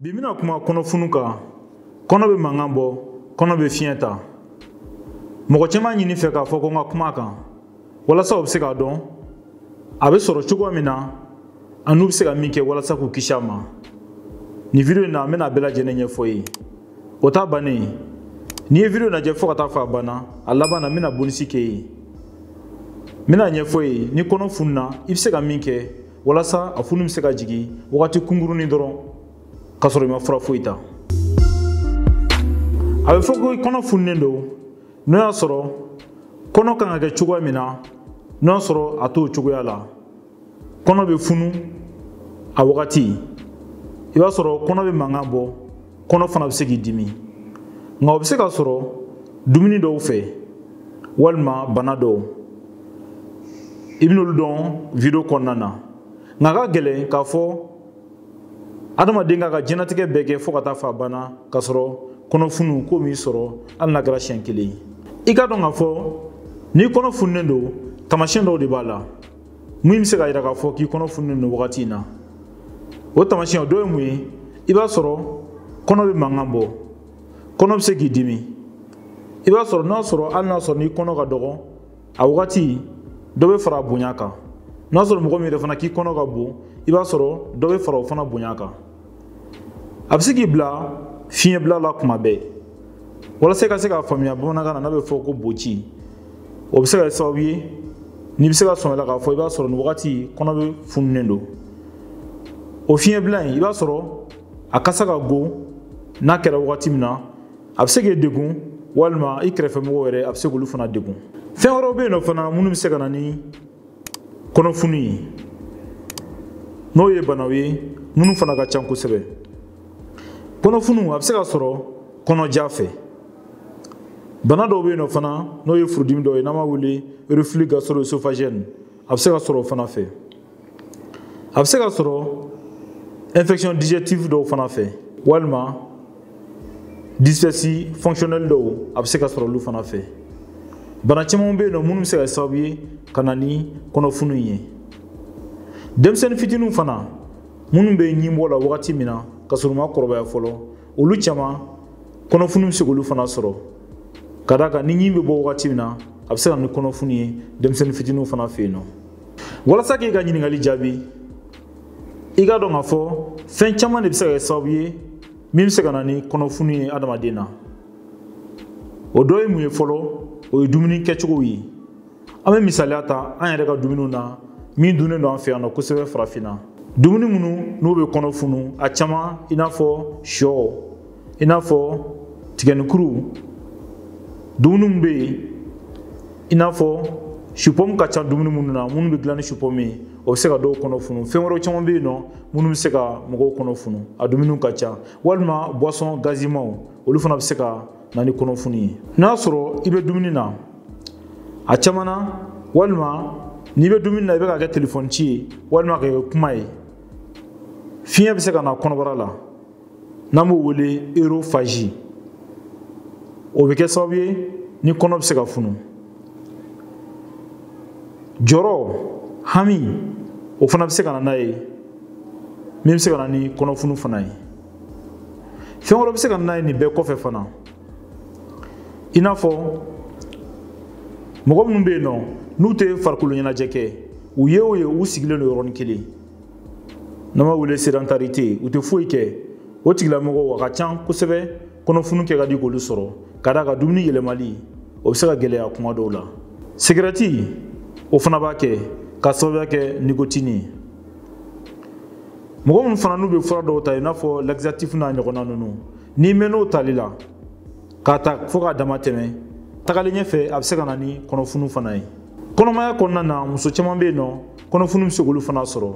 bi n bɛna kuma kɔnɔfunu kan kɔnɔ bɛ mankan bɔ kɔnɔ bɛ fiɲɛ ta mɔgɔ caman y'a ɲini n fɛ k'a fɔ ko n ka kuma a kan walasa u bɛ se k'a dɔn a bɛ sɔrɔ cogoya min na ani u bɛ se ka min kɛ walasa k'u kisi a ma nin video in na n bɛna a bɛɛ lajɛlen ɲɛfɔ i ye o t'a bannen n'i ye video lajɛ fo ka taa fo a banna a laban na n bɛna bonisi kɛ yen n bɛna a ɲɛfɔ i ye n'i kɔnɔ fununa i bɛ se ka min kɛ walasa a funu bɛ se ka jigin wagati kunkurunin dɔrɔn k'a sɔrɔ i ma fura foyi ta a bɛ fɔ ko i kɔnɔ fununen don n'o y'a sɔrɔ kɔnɔ kan ka kɛ cogoya min na n'o y'a sɔrɔ a t'o cogoya la kɔnɔ bɛ funu a wagati i b'a sɔrɔ kɔnɔ bɛ mankan bɔ kɔnɔ fana bɛ se k'i dimi nka o bɛ se ka sɔrɔ dumuni dɔw fɛ walima bana dɔw i bɛn'olu dɔn video kɔnɔna na nka a ka gɛlɛn k'a fɔ adamaden k'a ka diɲɛnatigɛ bɛɛ kɛ fo ka taa fo a banna k'a sɔrɔ kɔnɔfunu ko m'i sɔrɔ hali n'a kɛra siɲɛ kelen i k'a dɔn k'a fɔ n'i kɔnɔ fununen don taamasiyɛn dɔw de b'a la minnu bɛ se k'a yira k'a fɔ k'i kɔnɔ fununen don wagati in na o taamasiyɛn dɔ ye mun ye i b'a sɔrɔ kɔnɔ bɛ mankan bɔ kɔnɔ bɛ se k'i dimi i b'a sɔrɔ n'a sɔrɔ hali n'a sɔrɔ n'i kɔnɔ ka dɔgɔ a wagati dɔ bɛ fara a bonya kan n'a sɔrɔ mɔgɔ min yɛrɛ fana k'i kɔnɔ ka bon i b'a sɔrɔ dɔ bɛ fara o fana bonya kan a bɛ se k'i bila fiɲɛbila la kuma bɛɛ walasa i ka se k'a faamuya bamanankan na n'a bɛ fɔ ko boci o bɛ se ka kɛ sababu ye n'i bɛ se ka sɔn a la k'a fɔ i b'a sɔrɔ nin wagati kɔnɔ bɛ fununen don o fiɲɛbila in i b'a sɔrɔ a kasa ka go n'a kɛra wagati min na a bɛ se k'e degun walima i kɛrɛfɛmɔgɔw yɛrɛ a bɛ se k'olu fana degun fɛn wɛrɛw bɛ yen nɔ fana minnu bɛ se ka na ni kɔnɔfunu ye n'o ye banaw ye minnu fana ka can kosɛbɛ kɔnɔfunu a bɛ se ka sɔrɔ kɔnɔja fɛ bana dɔw bɛ yen nɔ fana n'o ye furudimi dɔ ye n'an b'a wele reflux gastro-œsophagien a bɛ se ka sɔrɔ o fana fɛ a bɛ se ka sɔrɔ infection digestive dɔw fana fɛ walima dyspepsie fonctionnelle dɔw a bɛ se ka sɔrɔ olu fana fɛ bana caman bɛ yen nɔ minnu bɛ se ka kɛ sababu ye ka na ni kɔnɔfunu ye denmisɛnnin fitiniw fana minnu bɛ ɲinbɔ la wagati min na k'a sɔrɔ u ma kɔrɔbaya fɔlɔ olu caman kɔnɔfunu bɛ se k'olu fana sɔrɔ ka d'a kan ni ɲin bɛ bɔ wagati min na a bɛ se ka na ni kɔnɔfunu ye denmisɛnnin fitiniw fana fɛ yen nɔ walasa k'i ka ɲininkali jaabi i k'a dɔn k'a fɔ fɛn caman de bɛ se ka kɛ sababu ye min bɛ se ka na ni kɔnɔfunu ye adamaden na o dɔ ye mun ye fɔlɔ o ye dumuni kɛcogow ye an bɛ misaliya ta an yɛrɛ ka dumuniw na min dunnen don an fɛ yan nɔ kosɛbɛ farafinna dumuni minnu n'u bɛ kɔnɔ funu a caman i n'a fɔ shɔ i n'a fɔ tigɛnikuru dumuni min bɛ yen i n'a fɔ supɔmu ka ca dumuni minnu na minnu bɛ gilan ni supɔmu ye o bɛ se ka dɔw kɔnɔ funu fɛn wɛrɛ caman bɛ yen nɔ minnu bɛ se ka mɔgɔw kɔnɔ funu a dumuniw ka ca walima buwasɔn gazimaw olu fana bɛ se ka na ni kɔnɔfunu ye n'a sɔrɔ i bɛ dumuni na a caman na walima n'i bɛ dumuni na i bɛ ka kɛ telefɔni ci ye walima ka kɛ kuma ye fiɲɛ bɛ se ka na kɔnɔbara la n'an b'o wele erofazi o bɛ kɛ sababu ye ni kɔnɔ bɛ se ka funu jɔrɔ hami o fana bɛ se ka na n'a ye min bɛ se ka na ni kɔnɔfunu fana ye fɛn wɛrɛ bɛ se ka na n'a ye nin bɛɛ kɔfɛ fana i n'a fɔ mɔgɔ minnu bɛ yen nɔ n'u tɛ farikolo ɲɛnajɛ kɛ u ye o ye u sigilen don yɔrɔnin kelen n'an b'a wele sedantarite u tɛ foyi kɛ o tigilamɔgɔw a ka can kosɛbɛ kɔnɔfunu kɛ ka di k'olu sɔrɔ ka d'a kan dumuni yɛlɛmali o bɛ se ka gɛlɛya kuma dɔw la sigɛrɛti o fana b'a kɛ k'a sababuya kɛ nikotini ye mɔgɔ minnu fana n'u bɛ fura dɔw ta i n'a fɔ laxatif n'a ɲɔgɔnna ninnu n'i mɛnn'o tali la k'a ta fo k'a dama tɛmɛ tagalen ɲɛfɛ a bɛ se ka na ni kɔnɔfunu fana ye kɔnɔmaya kɔnɔna na muso caman bɛ yen nɔ kɔnɔfunu bɛ se k'olu fana sɔrɔ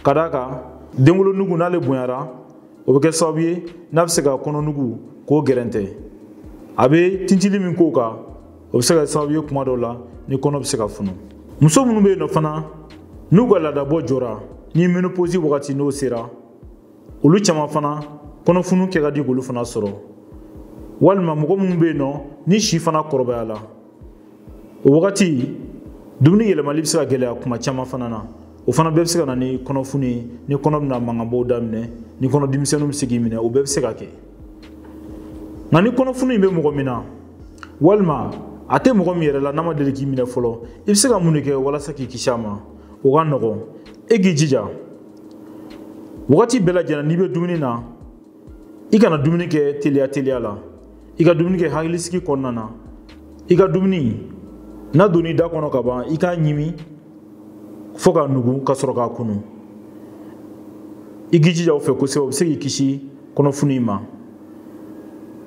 ka d'a kan denwolonugu n'ale bonyara o bɛ kɛ sababu ye n'a bɛ se ka kɔnɔnugu k'o gɛrɛntɛ a bɛ tintili min k'o kan o bɛ se ka kɛ sababu ye kuma dɔw la ni kɔnɔ bɛ se ka funu muso minnu bɛ yen nɔ fana n'u ka laadabɔ jɔra ni menoposi wagati n'o sera olu caman fana kɔnɔfunu kɛ ka di k'olu fana sɔrɔ walima mɔgɔ minnu bɛ yen nɔ ni si fana kɔrɔbayala o wagati dumuni yɛlɛmali bɛ se ka gɛlɛya kuma caman fana na o fana bɛɛ bɛ se ka na ni kɔnɔfunu ye ni kɔnɔ bɛna mankanbɔw daminɛ ni kɔnɔdimi misɛnninw bɛ se k'i minɛ o bɛɛ bɛ se ka kɛ nka ni kɔnɔfunu in bɛ mɔgɔ min na walima a tɛ mɔgɔ min yɛrɛ la n'a ma deli k'i minɛ fɔlɔ i bɛ se ka mun de kɛ walasa k'i kisi a ma o ka nɔgɔn e k'i jija wagati bɛɛ lajɛlen n'i bɛ dumuni na i kana dumuni kɛ teliya teliya la i ka dumuni kɛ hakilisigi kɔnɔna na i ka dumuni n'a donn'i da kɔnɔ ka ban i k'a ɲimi fo k'a nugu ka sɔrɔ k'a kunu i k'i jija o fɛ kosɛbɛ o bɛ se k'i kisi kɔnɔfunu ma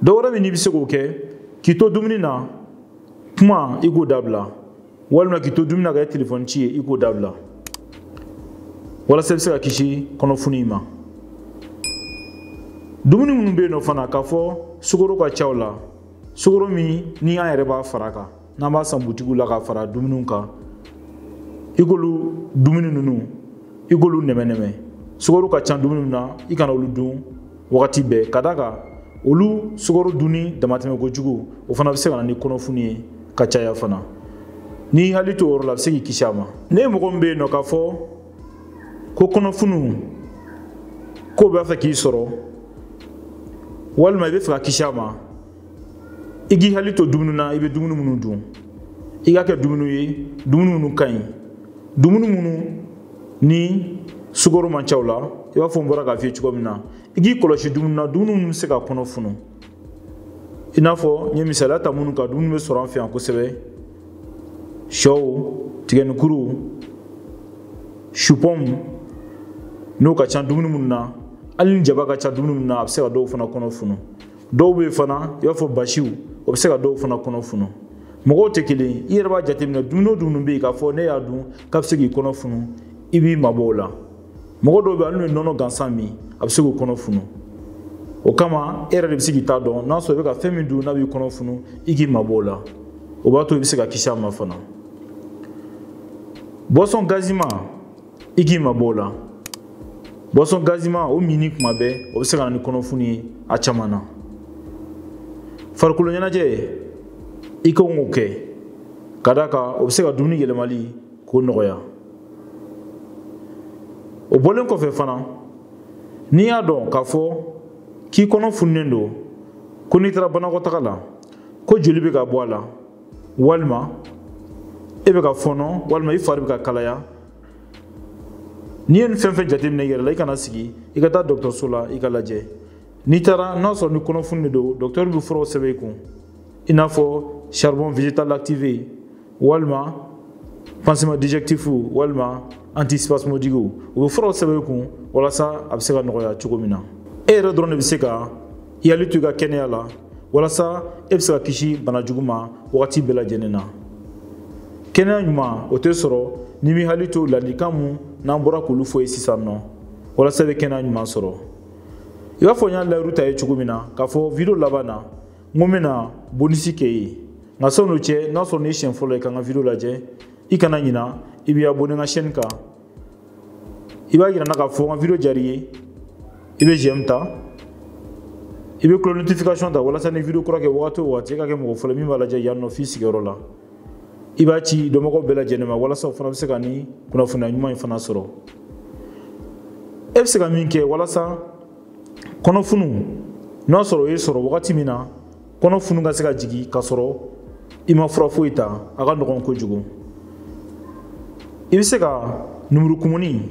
dɔ wɛrɛ min n'i bɛ se k'o kɛ k'i to dumuni na kuma i k'o dabila walima k'i to dumuni na ka kɛ telefɔni ci ye i k'o dabila walasa i bɛ se ka kisi kɔnɔfunu in ma dumuni minnu bɛ yen nɔ fana k'a fɔ sukoro ka ca u la sukoro min ni an yɛrɛ b'a fara a kan n'an b'a san butigiw la ka fara dumuniw kan i k'olu dumuni ninnu i k'olu nɛmɛnɛmɛ sukoro ka ca dumuni min na i kana olu dun wagati bɛɛ ka d'a kan olu sukaro dunni damatɛmɛ kojugu o fana bɛ se ka na ni kɔnɔfunu ye ka caya fana n'i hakili to o yɔrɔ la a bɛ se k'i kisi a ma n'e mɔgɔ min bɛ yen nɔ k'a fɔ ko kɔnɔfunu k'o b'a fɛ k'i sɔrɔ walima i b'a fɛ ka kisi a ma i k'i hakili to dumuni na i bɛ dumuni minnu dun i ka kɛ dumuni ye dumuni minnu ka ɲi dumuni minnu ni sukoro man ca u la i b'a fɔ n bɔra k'a f'i ye cogo min na i k'i kɔlɔsi dumuni na dumuni minnu bɛ se ka kɔnɔ funu i n'a fɔ n ye misaliya ta minnu kan dumuni bɛ sɔrɔ an fɛ yan kosɛbɛ shɔw tigɛnikuru supɔmu n'o ka ca dumuni minnu na hali ni jaba ka ca dumuni minnu na a bɛ se ka dɔw fana kɔnɔ funu dɔw bɛ yen fana i b'a fɔ basiw o bɛ se ka dɔw fana kɔnɔ funu mɔgɔw tɛ kelen ye i yɛrɛ b'a jateminɛ dumuni o dumuni bɛ yen k'a fɔ n'e y'a dun k'a bɛ se k'i kɔnɔ funu i b'i mabɔ o la mɔgɔ dɔw bɛ yen hali n'u ye nɔnɔ gansan min a bɛ se k'u kɔnɔ funu o kama e yɛrɛ de bɛ se k'i ta dɔn n'a sɔrɔ i bɛ ka fɛn min dun n'a b'i kɔnɔ funu i k'i mabɔ o la o b'a to i bɛ se ka kisi a ma fana boisson gazima i k'i mabɔ o la boisson gazima o minni kuma bɛɛ o bɛ se ka na ni kɔnɔfunu ye a caman na farikolo ɲɛnajɛ i ka kan k'o kɛ ka d'a kan o bɛ se ka dumuni yɛlɛmali k'o nɔgɔya o bɔlen kɔfɛ fana n'i y'a dɔn k'a fɔ k'i kɔnɔ fununen don ko n'i taara banakɔtaga la ko joli bɛ ka bɔ a la walima e bɛ ka fɔnɔ walima i fari bɛ ka kalaya n'i ye nin fɛn fɛn jateminɛ i yɛrɛ la i kana sigi i ka taa dɔgɔtɔrɔso la i ka lajɛ n'i taara n'a sɔrɔ ni kɔnɔfunu de don dɔgɔtɔrɔ bɛ furaw sɛbɛn i kun i n'a fɔ charbon végétal activé walima pansement digestif walima antispasmodique u bɛ furaw sɛbɛn i kun walasa a bɛ se ka nɔgɔya cogo min na e yɛrɛ dɔrɔn de bɛ se ka i hakili to i ka kɛnɛya la walasa e bɛ se ka kisi bana jugu ma wagati bɛɛ lajɛlen na kɛnɛya ɲuman o tɛ sɔrɔ n'i b'i hakili to ladilikan min n'an bɔra k'olu f'i ye sisan nɔ walasa i bɛ kɛnɛya ɲuman sɔrɔ i b'a fɔ n y'a layiru ta i ye cogo min na k'a fɔ video laban na n ko n bɛna bonisi k'i ye nka sani o cɛ n'a sɔrɔ n'i siɲɛ fɔlɔ ye ka n ka video lajɛ i kana ɲina i b'i abonné n ka chaîne kan i b'a yira n na k'a fɔ n ka video diyar'i ye i bɛ j'aime ta i bɛ cloche notification ta walasa ni video kura kɛ wagati o wagati e ka kɛ mɔgɔ fɔlɔ min b'a lajɛ yan nɔ f'i sigiyɔrɔ la i b'a ci dɔnbagaw bɛɛ lajɛlen ma walasa u fana bɛ se ka ni kunnafoniya ɲuman in fana sɔrɔ e bɛ se ka min kɛ walasa kɔnɔfunu n'a sɔrɔ o y'i sɔrɔ wagati min na kɔnɔ funu ka se ka jigin k'a sɔrɔ i ma fura foyi ta a ka nɔgɔn kojugu i bɛ se ka numurukumuni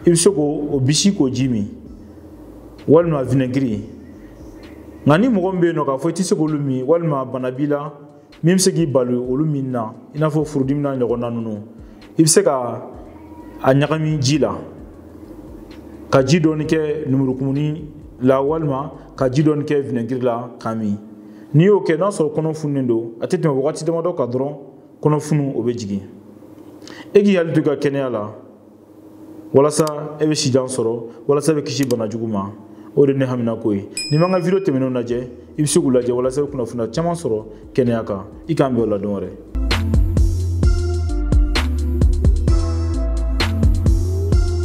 i bɛ se k'o bisi k'o ji min walima vinɛgiri nka ni mɔgɔ min bɛ yen nɔ k'a fɔ i tɛ se k'olu min walima bana b'i la min bɛ se k'i bali olu min na i n'a fɔ furudimi n'a ɲɔgɔnna ninnu i bɛ se ka a ɲagami ji la ka ji dɔɔni kɛ numurukumuni la walima ka ji dɔɔni kɛ vinɛgiri la k'a min n'i y'o kɛ n'a sɔrɔ kɔnɔ fununen don a tɛ tɛmɛ wagati damadɔ kan dɔrɔn kɔnɔ funu o bɛ jigin e k'i hakili to i ka kɛnɛya la walasa e bɛ sijan sɔrɔ walasa e bɛ kisi bana jugu ma o de ye ne haminako ye n'i ma n ka video tɛmɛnenw lajɛ i bɛ se k'u lajɛ walasa i bɛ kunnafoniya caman sɔrɔ kɛnɛya kan i k'an bɛn o la don wɛrɛ